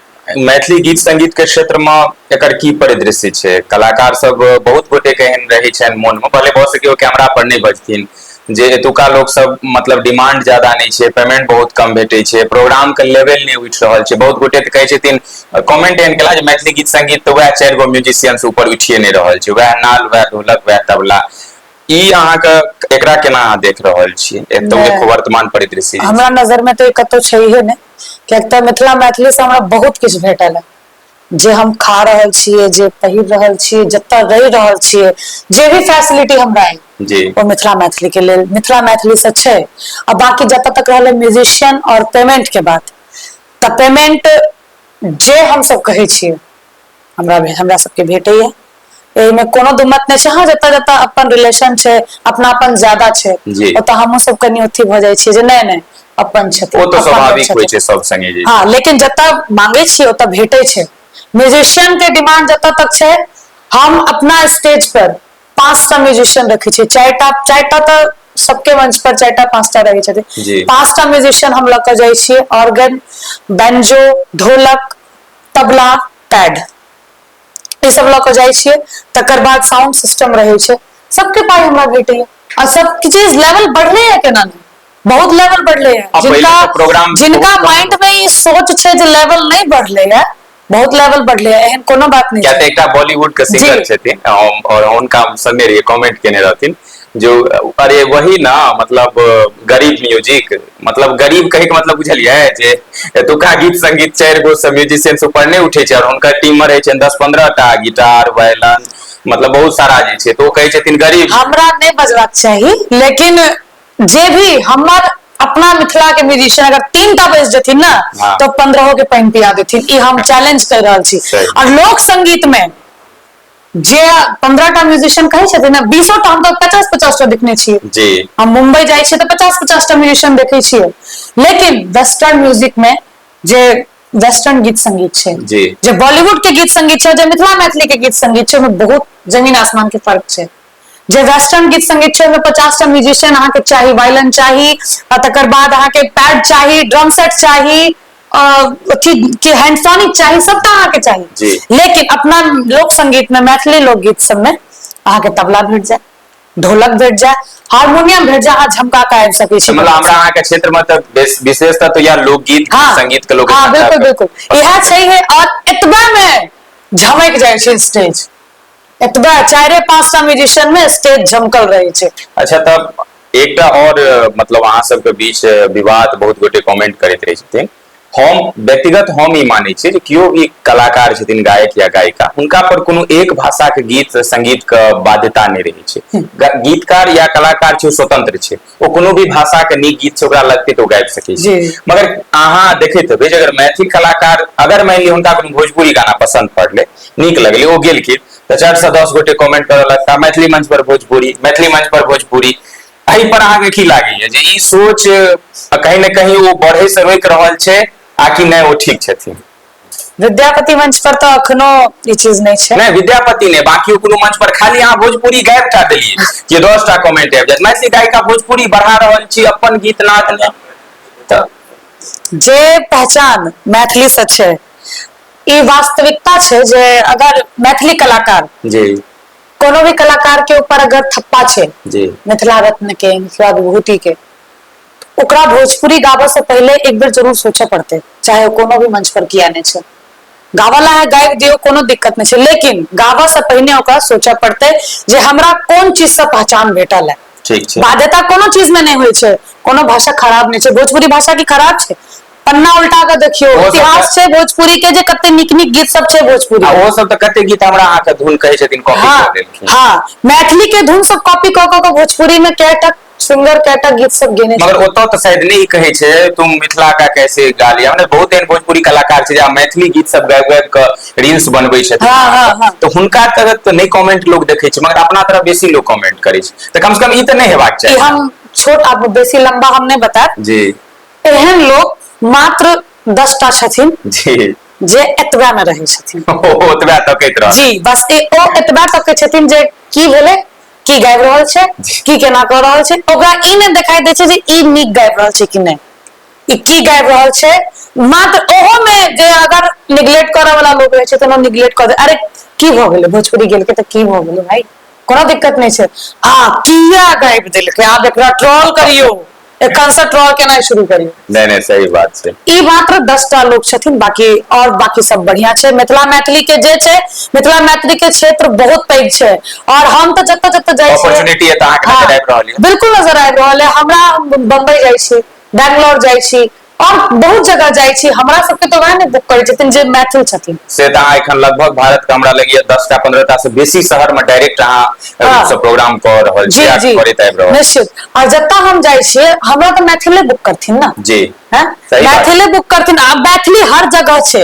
मैथिली गीत संगीत के क्षेत्र में एकर की परिदृश्य छै कलाकार सब बहुत गोटे के एहन रहे छनि मोन में भले भऽ सके ओ कैमरा पर नहि बजथिन जे एतुका लोक सब मतलब डिमांड ज्यादा नहि छै पेमेंट बहुत कम भेटै छै प्रोग्राम के लेवल नहि उठि रहल छै बहुत गोटे तऽ कहै छथिन कमेंट एहन केला जे मैथिली गीत संगीत तऽ वएह चारि गो म्यूजिशियन से ऊपर उठिए नहि रहल छै वएह नाल वएह ढोलक वएह तबला ई अहाँके एकरा केना अहाँ देख रहल छियै एतौ वर्तमान परिदृश्य हमरा नजर में तऽ कतौ छैहे नहि किएक तऽ मिथिला मैथिलीसँ हमरा बहुत किछु भेटल हँ जे हम खा रहल छियै जे पहिर रहल छियै जतय रहि रहल छियै जे भी फैसिलिटी हमरा अइ जी ओ मिथिला मैथिली के लेल मिथिला मैथिली से छै आ बाँकी जतऽ तक रहलै म्यूजिशियन आओर पेमेंट के बात तऽ पेमेंट जे हमसभ कहै छियै हमरा हमरा सबके भेटैया एहिमे कोनो दू मत नहि छै हँ जतऽ जतऽ अपन रिलेशन छै अपनापन ज्यादा छै जी। ओतऽ हमहुँ सब कनि अथी भऽ जाइ छियै जे नहि नहि अपन छथिन ओ तऽ अपन लोक स्वाभाविक छथिन। होइ छै सब संगे जे हाँ लेकिन जतऽ मांगे छियै ओतऽ भेटै छै म्यूजिशियन के डिमांड जतऽ तक छै हम अपना स्टेज पर पाँचटा म्यूजिशियन रखै छियै चारिटा चारिटा तऽ सबके मंच पर चारिटा पाँचटा रहै छथिन जी पाँचटा म्यूजिशियन हम लऽ कऽ जाइ छियै organ banjo dholak tabla pad ई सब लऽ कऽ जाइ छियै तकर बाद साउंड सिस्टम रहै छै सबके पाइ हमरा भेटैए आ सब चीज लेवल बढ़लैए केना नहि बहुत लेवल बढ़लैए आ पहिले जिनका तऽ प्रोग्राम जिनका बहुत कम माइंड मे ई सोच छै जे लेवल नहि बढ़लैए बहुत लेवल बढ़लैए एहन कोनो बात नहि किया छै तऽ एकटा बॉलीवुड के सिंगर जी। छथिन हम- और हुनका हम संगे रहिए कमेंट केने रहथिन जो अरे वही ना मतलब गरीब म्यूजिक मतलब गरीब कहे के मतलब बुझलियै जे एतुका गीत संगीत चारि गो से म्यूजिशियन से ऊपर नहि उठे छै और हुनकर टीम में रहे छै दस पंद्रह टा गिटार वायलन मतलब बहुत सारा जे छै तो कहे छथिन गरीब हमरा नहि बजबाक चाही लेकिन जे भी हमर अपना मिथिला के म्यूजिशियन अगर तीन टा बज जेथिन ना हाँ। तो पंद्रहो के पानि पिया देथिन ई हम चैलेंज कर रहल छी सही। और लोक संगीत में जे पंद्रह टा म्यूजिशियन कहै छथिन ने बीसो टा हम तऽ पचास पचास टा देखने छियै जी हम मुंबई जाइ छियै तऽ पचास पचास टा म्यूजिशियन देखै छियै लेकिन वेस्टर्न म्यूजिक में जे वेस्टर्न गीत संगीत छै जी। जे बॉलीवुड के गीत संगीत छै जे मिथिला मैथिली के गीत संगीत छै ओहिमे बहुत जमीन आसमान के फर्क छै जे वेस्टर्न गीत संगीत छै ओहिमे पचास टा म्यूजिशियन अहाँके चाही वायलन चाही आ तकर बाद अहाँके पैड चाही ड्रम सेट चाही अथी के हैंडसोनिक चाही सबटा अहाँके चाही लेकिन अपना लोक संगीत में मैथिली लोकगीत सबमे अहाँके तबला भेट जाए ढोलक भेट जाए हारमोनियम भेट जाए अहाँ झमका के आबि सकै छी मतलब हमरा अहाँके क्षेत्र में तऽ विशेषता तो यह लोकगीत हाँ, संगीत के लोक हाँ, बिल्कुल बिल्कुल यह छै और एतबा में झमक जाए स्टेज एतबे चारे पांच टा म्यूजिशियन में स्टेज झमकल रहे छै अच्छा तब एकटा और मतलब अहाँ सबके बीच विवाद बहुत गोटे कमेंट करैत रहै छथिन हम व्यक्तिगत हम ई मानै छी जे केओ भी कलाकार छथिन गायक या गायिका हुनका पर कोनो एक भाषाके गीत संगीतके बाध्यता नहि रहै छै गीतकार या कलाकार छै स्वतंत्र छै ओ कोनो भी भाषा के नीक गीत छै ओकरा लगते तो गाबि सकै छै मगर अहाँ देखैत हेबै जे अगर मैथिल कलाकार अगर मानि लिअ हुनका कोनो भोजपुरी गाना पसंद पड़लै नीक लगलै ओ गेलखिन तऽ चारि सए दस गोटे कमेंट करऽ लगता मैथिली मंच पर भोजपुरी मैथिली मंच पर भोजपुरी एहि पर अहाँके की लागैया जे ई सोच कहीं ने कहीं ओ बढ़े से रोकि रहल छै आकि नहि ओ ठीक छथिन विद्यापति मंच पर तो अखनो ई चीज नहीं छै नहीं विद्यापति ने बाकी कोनो मंच पर खाली अहाँ भोजपुरी गायब टा देलिए जे 10 टा कमेंट आबि जात मैथिली गायिका भोजपुरी बढ़ा रहल छी अपन गीत नाद ने त जे पहचान मैथिली से छै ई वास्तविकता छै जे अगर मैथिली कलाकार जी कोनो भी कलाकार के ऊपर अगर थप्पा छै जी मिथिला रत्न के मिथिला विभूति के ओकरा भोजपुरी गाबऽ से पहिले एक बेर जरूर सोचऽ पड़तै, चाहे ओ कोनो भी मंच पर किया ने छै। गाबऽ ला है गाबि दियौ, कोनो दिक्कत ने छै, लेकिन गाबऽ से पहिने ओकरा सोचऽ पड़तै जे हमरा कोन चीज से पहचान भेटल है। ठीक छै। बाध्यता कोनो चीज में ने होय छै, कोनो भाषा खराब ने छै, भोजपुरी भाषा की खराब छै? पन्ना उल्टा के देखियो, ओहो सब इतिहास तऽ- छै भोजपुरी के जे कते नीक-नीक गीत सब छै भोजपुरी आ में। ओहो सब तऽ कते गीत हमरा अहाँके धुन कहै छथिन कॉपी हाँ, कऽ देलखिन हाँ, मैथिली के धुन सब कॉपी कऽ कऽ के भोजपुरी में कैटा सुन्दर कएटा गीत सब गेने मगर छथिन ओतऽ तऽ शायद नहि ई कहै छै तुम मिथिला का कैसे गा लिया मने बहुत एहन भोजपुरी कलाकार छै जे आब मैथिली गीत सब गाबि गाबि कऽ रील्स बनबै छथिन हँ हँ हँ तऽ हुनका तरफ तऽ नहि कमेंट लोग देखै छै मगर अपना तरफ बेसी लोग कमेंट करै छै तऽ कम से कम ई तऽ नहि हेबाक ई चाही ने हम छोट आब बेसी लम्बा हम नहि बतायब जी एहन लोक मात्र दस टा छथिन जी जे एतबे मे रहै छथिन ओतबे तकैत रहत जी बस ओ एतबा तकै छथिन जे की भेलै की गाबि रहल छै की केना कऽ रहल छै ओकरा ई नहि देखाई दै छै जे ई नीक गाबि रहल छै कि नहि ई की गाबि रहल छै मात्र ओहो मे जे अगर निगलेक्ट करऽ वाला लोग रहै छै तऽ निगलेक्ट कऽ दे अरे की भऽ गेलै भोजपुरी गेलकै तऽ की भऽ गेलै भाई कोनो दिक्कत नहि छै आ किया गाबि देलकै आब एकरा ट्रॉल करियौ एखन से ट्रॉल केना शुरू करी नहीं नहीं सही बात छै ई मात्र 10 टा लोग छथिन बाकी और बाकी सब बढ़िया छै मिथिला मैथिली के जे छै मिथिला मैथिली के क्षेत्र बहुत पैघ छै और हम त जत जत जाय छी अपॉर्चुनिटी एत आके नजर आबि रहल है बिल्कुल नजर आबि रहल है हमरा बम्बई जाय छी बैंगलोर जाय छी आओर बहुत जगह जाइ छी हमरा सबके तऽ वएह ने बुक करै छथिन जे मैथिल छथिन से तऽ अहाँ एखन लगभग भारत के हमरा लगैया दस टा पंद्रह टा से बेसी शहर में डायरेक्ट अहाँ हाँ। सब प्रोग्राम कर रहल जी छी जी करैत आबि रहल निश्चित आ जतऽ हम जाइ छियै हमरा तऽ मैथिले बुक करथिन ने जी हैं सही बात। मैथिले बुक करथिन आब मैथिली हर जगह छै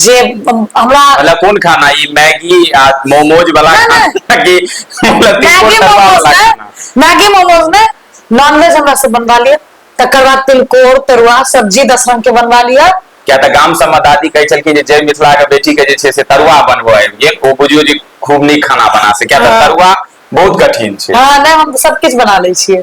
जे हमरा मतलब कोन खाना ई मैगी आ मोमोज वाला खाना कि मतलब मैगी मोमोज ने मैगी मोमोज ने नॉनवेज हमरा से बनवा लिया तकर बाद तिलकोर तरुआ सब्जी दस रंग के बनवा लिया क्या तऽ गाम सबमे दादी कहै छलखिन जे जय मिथिला के बेटी के जे छै से तरुआ बनबो आबि गेल ओ बुझियो जे खूब नीक खाना बना से क्या तऽ हाँ। तरुआ बहुत कठिन छै हाँ नै हम सब किछ बना लै छियै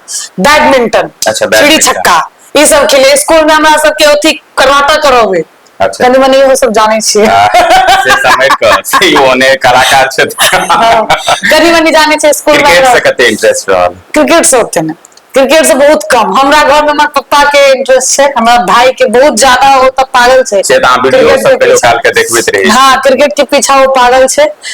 बैडमिंटन अच्छा, चिड़ी बैडमिंटन। छक्का ई सब खेले स्कूल में हमरा सबके अथी करवाता करवे अच्छा। कनी मनी इहो सब जानै छियै आ, से समय क से यो ने कलाकार छै हाँ, कनी मनी जानै छियै स्कूल में क्रिकेट से हमरा- कते इंटरेस्ट रहल क्रिकेट से ओते ने क्रिकेट से बहुत कम हमरा घर में हमर पप्पा के इंटरेस्ट छै हमरा भाई के बहुत ज्यादा ओ तऽ पागल छै से तऽ अहाँ वीडियो क्रिकेट सब के कहियो पीछा। काल के देखबैत रही हाँ क्रिकेट के पीछा ओ पागल छै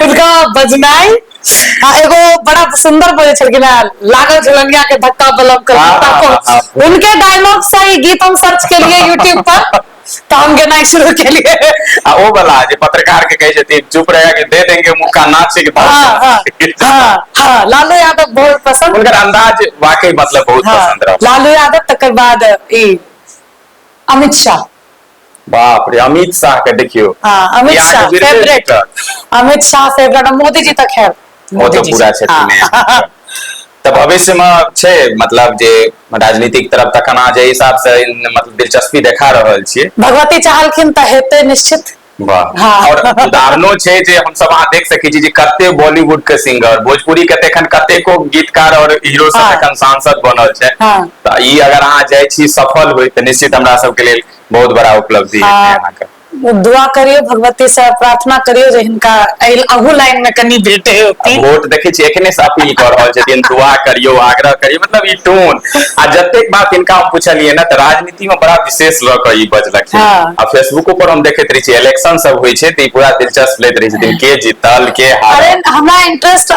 हुनका बजनाइ आ एगो बड़ा सुंदर बजै छलखिन है लागल झुलनिया के धक्का बलम कर हाँ, हाँ, हाँ, हाँ। उनके डायलॉग से ही गीत हम सर्च के लिए यूट्यूब पर तो हम गेनाइ शुरू के लिए आ ओ वाला जे पत्रकार के कहै छथि चुप रहे के दे देंगे मुक्का नाच के भाव हाँ हाँ हाँ हाँ लालू यादव बहुत पसंद उनकर अंदाज वाकई मतलब बहुत हाँ, पसंद रहा लालू यादव तकर बाद ई अमित शाह बाप रे अमित शाह के देखियो हाँ अमित बिहार शाह के बिरले फेवरेट जीतल। अमित शाह फेवरेट मोदी जी तऽ खैर वो मोदी तो जी पूरा से- छथिन हाँ। तऽ भविष्य में छै मतलब जे राजनीतिक तरफ तखन अहाँ जे हिसाब से इन- मतलब दिलचस्पी देखा रहल छियै भगवती चाहलखिन तऽ हेतै निश्चित वाह हाँ। और उदाहरणो छै जे हम सब अहाँ देख सकै छी जे कते बॉलीवुड के सिंगर भोजपुरी के तऽ एखन कतेको गीतकार और हीरो सब हाँ। एखन सांसद बनल छै हाँ तऽ ई अगर अहाँ जाइ छी सफल होइत तऽ निश्चित हमरा सबके लेल बहुत बड़ा उपलब्धि हेतै आ अहाँके दुआ करियौ भगवती से प्रार्थना करियौ जे हिनका एहि अहू लाइन में कनि भेटे आ होती वोट देखै छी एखने से अपील कऽ रहल छथिन दुआ करियौ आग्रह करियौ मतलब ई टोन आ जतेक बात हिनका हम पुछलियै ने तऽ राजनीति में बड़ा विशेष लऽ कऽ ई बजलखिन हँ। आ फेसबुको पर हम देखैत रहै छियै इलेक्शन सब होइ छै तऽ ई पूरा दिलचस्प लैत रहै छथिन के जीतल के अरे हारल हमरा इंटरेस्ट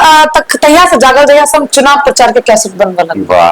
तहिया से जागल जहिया से हम चुनाव प्रचार के कैसेट बनबऽ लगलहुँ वाह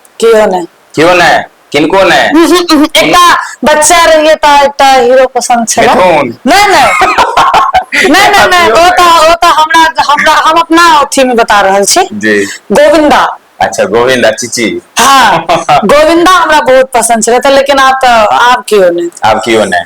केओ नहि केओ नहि किनको नहि एकटा बच्चा रहिए ता एकटा हीरो पसंद छल मिथुन नहीं नहीं नहीं नहीं नहीं वो तो वो तो हमरा हमरा हम अपना अथी में बता रहल छी जी गोविंदा अच्छा गोविंदा चीची हाँ गोविंदा हमरा बहुत पसंद छल लेकिन आप तो आप क्यों नहीं आप क्यों नहीं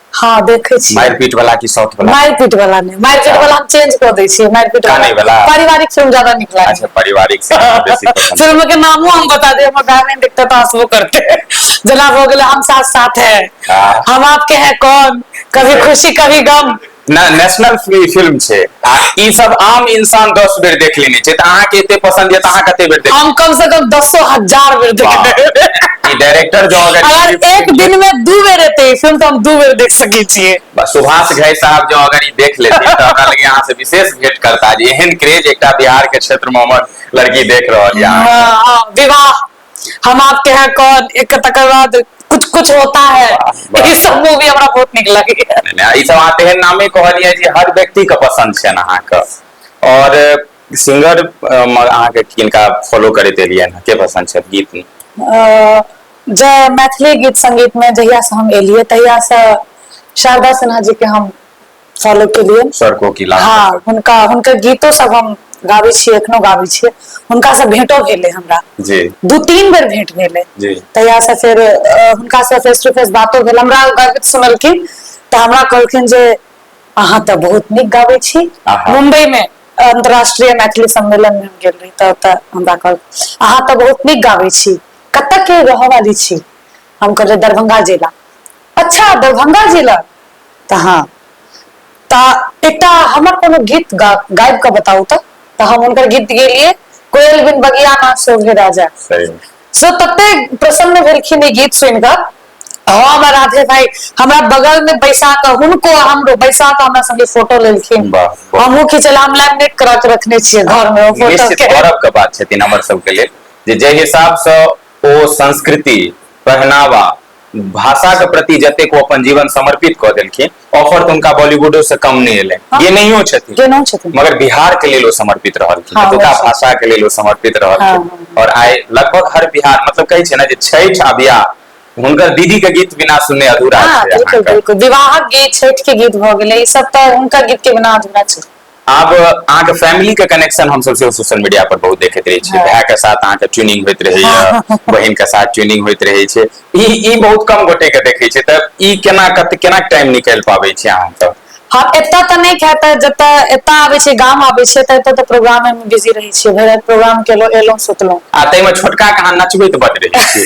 हाँ देखै छी मारि पीट वाला की साउथ वाला मारि पीट वाला ने मारि पीट वाला हम चेंज क दै छी मारि पीट काने वाला पारिवारिक फिल्म ज्यादा नीक लागे अच्छा पारिवारिक से बेसी पसंद फिल्म के नामो हम बता दे हमर गाने देखते तो हंसबो करते जना हो गेले हम साथ साथ है हाँ। हम आपके हैं कौन कभी खुशी कभी गम ना नेशनल फिल्म छे आ ई सब आम इंसान दस बेर देख लेने छै तऽ अहाँके एते पसंद यऽ तऽ अहाँ कते बेर देख हम कम से कम दसो हजार बेर देख वाह। लेबै। ई डायरेक्टर जो अगर अगर एक दिन में दू बेर एते ई फिल्म तऽ हम दू बेर देख सकै छियै बस सुभाष घई साहब जो अगर ई देख लेती तऽ हमरा लगे अहाँ से विशेष भेंट करता जे एहन क्रेज एकटा बिहार के क्षेत्र में हमर लड़की देख रहल यऽ अहाँ। हाँ, हाँ, विवाह हम आप के हैं कौन एक तकर बाद कुछ कुछ होता है ई सब मूवी हमरा बहुत नीक लगैया नहि, ई सब अहाँ तेहन नामे कहलियै जे हर व्यक्ति के पसंद छनि अहाँके और सिंगर अहाँके किनका फॉलो करैत एलियनि हँ? के पसंद छथि गीत मे अ, जे मैथिली गीत संगीत में जहिया से हम एलियै तहिया से शारदा सिन्हा जी के हम फॉलो केलिए सर कोकिला हाँ हुनका हुनकर गीतो सब हम गाबै छियै एखनो गाबै छियै हुनका से भेंटो भेलै हमरा जी दू तीन बेर भेंट भेलै जी तहिया से फेर हुनका से फेस टू फेस बातो भेल हमरा गर्वित सुनलखिन तऽ हमरा कहलखिन जे अहाँ तऽ बहुत नीक गाबै छी मुंबई में अंतर्राष्ट्रीय मैथिली सम्मेलन में गेल रही तऽ ओतऽ हमरा कहल अहाँ तऽ बहुत नीक गाबै छी कतऽ के रहऽ वाली छी हम कहलियै दरभंगा जिला अच्छा दरभंगा जिला तऽ हँ तऽ एकटा हमर कोनो गीत गा गाबि कऽ बताउ तऽ तऽ हम हुनकर गीत गेलियै कोयल बिन बगिया ना शोभे राजा सही में। सो तते प्रसन्न भेलखिन ई गीत सुनि कऽ हम आ राधे भाय हमरा बगल मे बैसा कऽ हुनको आ हमरो बैसा कऽ हमरा संगे फोटो लेलखिन वाह, बहुत हमहुँ खिचलहुँ हम लेमिनेट करा कऽ रखने छियै घर मे ओ फोटो निश्चित के गौरव के बात छथिन हमर सबके लेल जे जाहि हिसाबसँ ओ संस्कृति पहनावा भाषाके प्रति जतेक ओ अपन जीवन समर्पित कऽ देलखिन ऑफर तऽ हुनका बॉलीवुडो से कम नहि एलै हाँ। ये नहियो छथिन केनो छथिन मगर बिहार के लेल ओ समर्पित रहलखिन हाँ, एतुका वैसे। भाषा के लेल ओ समर्पित हाँ, रहलखिन हाँ, और आइ लगभग हर बिहार मतलब कहै छै ने जे छठि आ बियाह हुनकर दीदी के गीत बिना सुनने अधूरा हाँ छै बिल्कुल अहाँके। बिल्कुल विवाहक गीत छठि के गीत भऽ गेलै ई सब तऽ हुनकर गीत के बिना अधूरा छै आब अहाँके फैमिली के कनेक्शन हम सब सेहो सोशल मीडिया पर बहुत देखैत रहै छियै भाय के साथ अहाँके ट्यूनिंग होइत रहैया बहिन के साथ ट्यूनिंग होइत रहै छै ई ई बहुत कम गोटे के देखै छै तऽ ई केना कत केना टाइम निकालि पाबै छी अहाँ तऽ हँ एतऽ तऽ नहि खाय तऽ जतऽ एतऽ आबै छै गाम आबै छै तऽ एतऽ तऽ प्रोग्रामे मे बिजी रहै छियै भरि राति प्रोग्राम केलहुँ एलहुँ सुतलहुँ आ ताहिमे छोटका के अहाँ नचबैत बड रहै छियै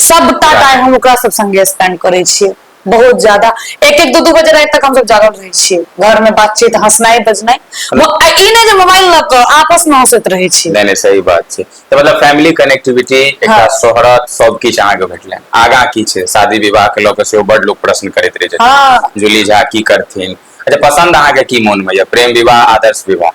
सबटा टाइम हम ओकरा सब संगे स्पेंड करै छियै बहुत ज्यादा एक एक दू दू बजे राति तक हम सब जागल रहै छियै घर में बातचीत हंसनाई बजनाई ई नै जे मोबाइल ल क आपस में हंसैत रहै छी नै नै सही बात छै त मतलब फैमिली कनेक्टिविटी एकटा हाँ। शोहरत सब किछ अहाँ के भेटलैन आगा की छै शादी विवाह के ल क सेहो बड लोग प्रश्न करैत रहै छै हाँ। जूली झा की करथिन अच्छा पसंद अहाँ के की मोन में या प्रेम विवाह आदर्श विवाह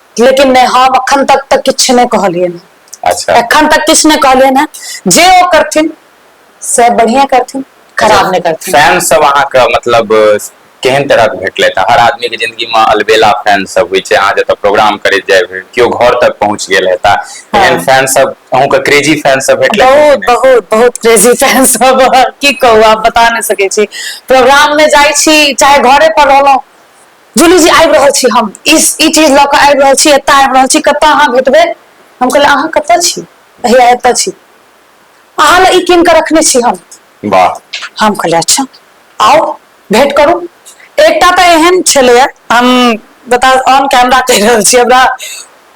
लेकिन नहि हम अखन तक तऽ किछु नहि कहलियै हँ अच्छा एखन तक किछु नहि कहलियै हँ जे ओ करथिन से बढ़िया करथिन खराब नहि करथिन फैन सब अहाँके मतलब केहन तरह के भेटलथि हर आदमी के जिंदगी में अलबेला फैन सब होइ छै अहाँ जतऽ प्रोग्राम करैत जाय भेल केओ घर तक पहुँच गेल हेता एहन हँ फैन सब अहूँ के क्रेजी फैन सब भेटलथि हे कि बहुत नहि बहुत बहुत क्रेजी फैन सब की कहू आब बता नहि सकै छी प्रोग्राम मे जाइ छी चाहे घरे पर रहलौं जूली जी आबि रहल छी हम ई ई चीज लऽ कऽ आबि रहल छी एतऽ आबि रहल छी कतऽ अहाँ भेटबै हम कहलियै अहाँ कतऽ छी भैया एतऽ छी अहाँ लए ई कीन कऽ रखने छी हम वाह हम कहलियै अच्छा आओ भेंट करू एकटा तऽ एहन छलैए हम बता ऑन कैमरा कहि रहल छी हमरा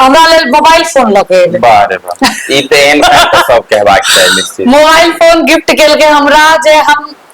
हमरा लेल मोबाइल फोन लऽ कऽ एलै वाह रे वाह ई तऽ एहन काज तऽ सब कहबाक चाही निश्चित मोबाइल फोन गिफ्ट केलकै हमरा जे हम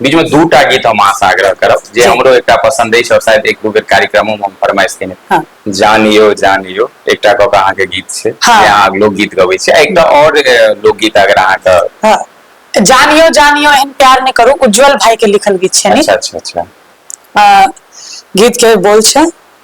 बीच में दूटा गीत हम आशा आग्रह करब जे जी। हमरो एकटा पसंद अछि और शायद एक दू बेर कार्यक्रमो में हम फरमाइश केने हाँ। जानियो जानियो एकटा कऽ कऽ अहाँके गीत छै हाँ। जे अहाँ लोकगीत गबै छी आ एकटा और ए, लोकगीत अगर अहाँके हाँ। जानियो जानियो एहन प्यार ने करू उज्जवल भाई के लिखल गीत छै अच्छा अच्छा अच्छा अ, गीत के बोल छै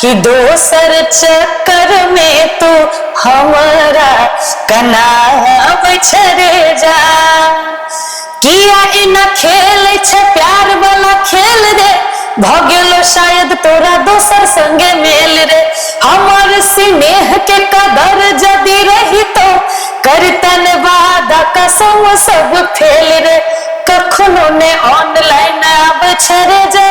कि दोसर चक्कर में तू हमरा कना बछरे जा किया एना खेल छ प्यार वाला खेल रे भ गेलो शायद तोरा दोसर संगे मेल रे हमर स्नेह के कदर जदी रही तो करतन वादा कसम सब फेल रे कखनो ने ऑनलाइन आब छरे जा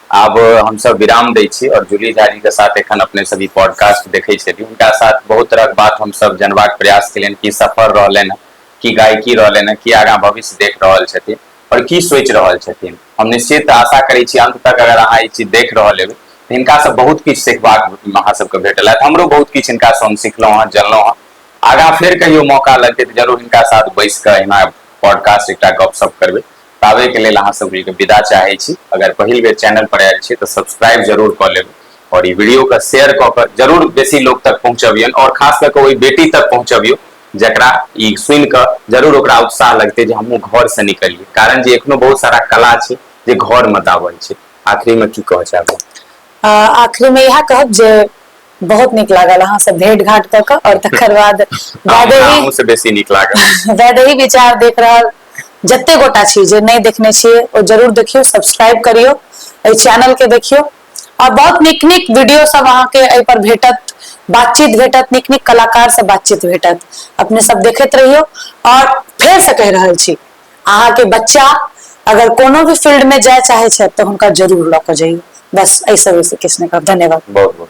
आब हम सब विराम दै छी और जूली झा जी के साथ एखन अपने सब ई पॉडकास्ट देखै छलियै हुनका साथ बहुत तरहक बात हम सब जानबाक प्रयास केलियनि की सफर रहलनि हैं की गायकी रहलनि हैं की आगाँ भविष्य देख रहल छथिन और की सोचि रहल छथिन हम निश्चित आशा करै छी अंत तक अगर अहाँ ई चीज देख रहल हेबै तऽ हिनका सब बहुत किछु सिखबाक अहाँ सबके भेटल हैत हमरो बहुत किछु हिनका से हम सिखलहुँ हँ जनलहुँ हँ आगाँ फेर कहियो मौका लगतै तऽ जरूर हिनका साथ बैस कऽ एहिना पॉडकास्ट एकटा गपशप करबै ताबे के लेल अहाँ सब के विदा चाहे छी अगर पहिल बेर चैनल पर आयल छी तो सब्सक्राइब जरूर क लेब और ई वीडियो के शेयर क के जरूर बेसी लोग तक पहुंचबियन और खास कर के ओई बेटी तक पहुंचबियो जकरा ई सुन के जरूर ओकरा उत्साह लगते जे हमहूँ घर से निकलिए कारण जे एखनो बहुत सारा कला छै जे घर में दाबल छै आखिरी में की कह चाहब आखिरी में यह कहब जे बहुत नीक लागल अहाँ सब भेट घाट कऽ कऽ आओर तकर बाद वैदेही से बेसी नीक लागल वैदेही विचार देख रहल जते गोटा छी जे नहि देखने छियै ओ जरूर देखियौ सब्सक्राइब करियौ एहि चैनल के देखियौ आओर बहुत नीक नीक वीडियो सब अहाँके एहि पर भेटत बातचीत भेटत नीक नीक कलाकार से बातचीत भेटत अपने सब देखैत रहियौ आओर फेर से कहि रहल छी अहाँके बच्चा अगर कोनो भी फील्ड में जाय चाहे छथि तऽ हुनका जरूर लऽ कऽ जाइए बस एहिसँ बेसी किछु नहि कहब धन्यवाद बहुत बहुत